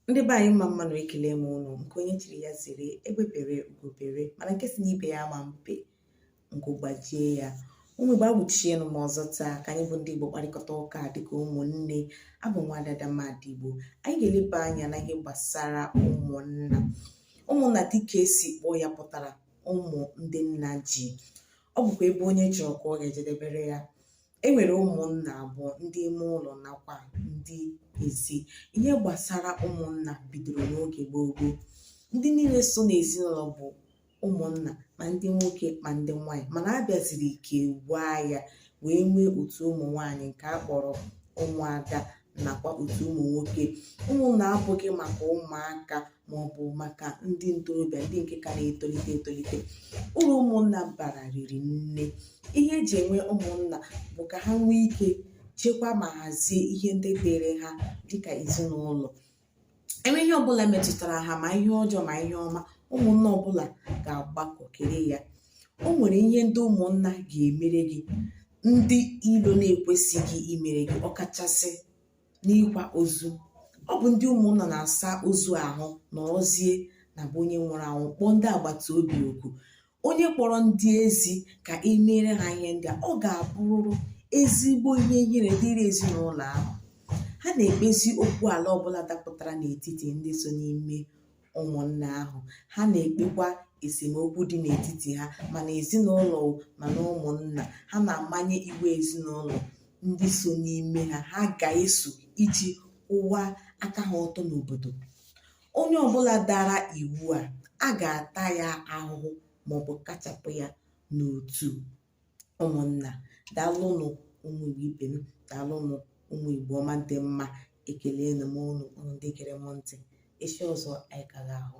ndị be anyị mma mmanụ ekele m ụnụ nke onye chiri ya zere egbe bere ugo bere mana nke si n'ibe ya ama ebe nku gbajie ya ụmụ igbo agwụchienụ m ọzọ taa ka anyị bụ ndị igbo kparịkọta ụka dịka ụmụnne abụ m nwada ada mmadụ igbo anyị ga-eleba anya na ihe gbasara ụmụnna ụmụnna dịka esi kpọọ ya pụtara ụmụ ndị nna ji ọ bụkwa ebe onye chọrọ ka ọ ga-ejedebere ya E nwere ụmụnna abụọ ndị ime ụlọ nakwa ndị ezi. Ihe gbasara ụmụnna bidoro n'oge gboo gboo. Ndị niile so n'ezinụlọ bụ ụmụnna ma ndị nwoke ma ndị nwaanyị mana a bịaziri kewaa ya wee nwee otu ụmụ nwaanyị nke a kpọrọ ụmụada nakwa otu ụmụ nwoke. Ụmụnna abụghị maka ụmụaka ma ọ bụ maka ndị ntorobịa ndị nke ka na-etolite etolite uru ụmụnna bara riri nne ihe eji enwe ụmụnna bụ ka ha nwee ike chekwa ma hazie ihe ndị dịịrị ha dịka ezinụlọ e nwee ihe ọbụla metụtara ha ma ihe ọjọọ ma ihe ọma ụmụnna ọbụla ga-agbakọ kere ya o nwere ihe ndị ụmụnna ga-emere gị ndị ilo na-ekwesịghị imere gị ọkachasị n'ịkwa ozu ọ bụ ndị ụmụnna na-asa ozu ahụ nọrọzie na be onye nwụrụ anwụ kpọọ ndị agbata obi oku onye kpọrọ ndị ezi ka e meere ha ihe ndị a ọ ga-abụrụ ezigbo ihe ihere dịrị ezinụlọ ahụ ha na-ekpezi okwu ala ọbụla dapụtara n'etiti ndị so n'ime ụmụnna ahụ ha na-ekpekwa esemokwu dị n'etiti ha ma na ezinụlọ ma na ụmụnna ha na-amanye iwu ezinụlọ ndị so n'ime ha ha ga-eso iji kwụwa aka ha ọtọ n'obodo onye ọbụla dara iwu a a ga-ata ya ahụhụ maọbụ kachapụ ya n'otu ụmụnna daalụnụ ụmụ igbo ibe m daalụnụ ụmụ igbo ọma dị mma ekelena m ụnụ ụnụ ndị gere m ntị echi ọzọ anyị ka ga-ahụ